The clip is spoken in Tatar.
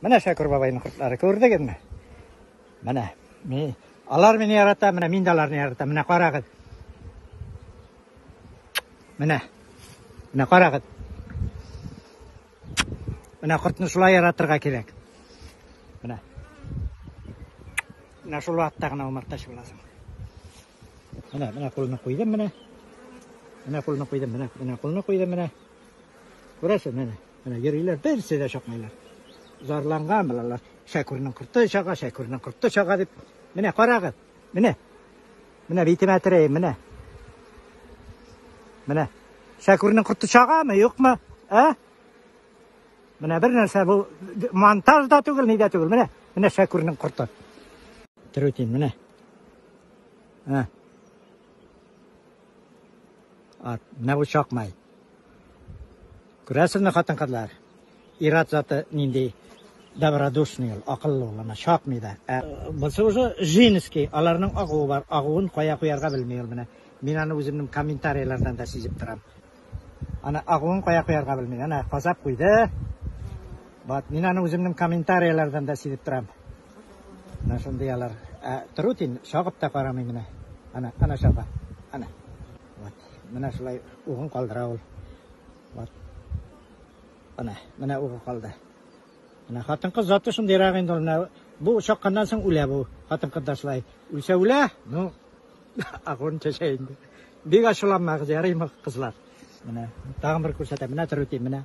Менә Шәкүр бабайның кортлары күрдегезме? Менә. Мин алар мине ярата, менә мин дә аларны яратам. Менә карагыз. Менә. Менә карагыз. Менә кортны шулай яратырга кирәк. Менә. Менә шул вакытта гына умартач буласың. Менә, менә кулны куйдым, менә. Менә кулны куйдым, менә, менә кулны куйдым, менә. Күрәсез, менә. Менә йөриләр, берсе дә чыкмыйлар. Зарланган булалар. Шәкүрнең корты чага, шәкүрнең корты чага дип. Менә карагыз. Менә. Менә битемә терәйем, менә. Менә. Шәкүрнең корты чагамы, юкмы? Ә? Менә бер нәрсә бу монтаж да түгел, ни дә түгел. Менә, менә Шәкүрнең корты. Трутин, менә. Ә. Ат, менә бу чакмай. Күрәсезме, хатын-кызлар? Ират заты нинди добродушный ул, акыллы ул, ана чакмый да. Ә булса уже женский, аларның агуы бар, агуын кая куярга белми ул менә. Мин аны үземнең комментарийлардан да сизеп торам. Ана агуын кая куярга белми, ана казап куйды. Бат, мин аны үземнең комментарийлардан да сизеп торам. Менә шундый алар. Ә трутень чагып та карамый менә. Әнә, әнә чаба. Әнә. Вот. Менә шулай угын калдыра ул. Вот. Әнә, менә угы калды. Менә хатын-кыз заты шундыйрак инде ул. Менә бу чакканнан соң үлә бу. Хатын-кыз да шулай. Үлсә үлә, ну, агон чәчә инде. Бик ачуланмагыз, ярыймы, кызлар? Менә, тагын бер күрсәтәм. Менә трутень, менә.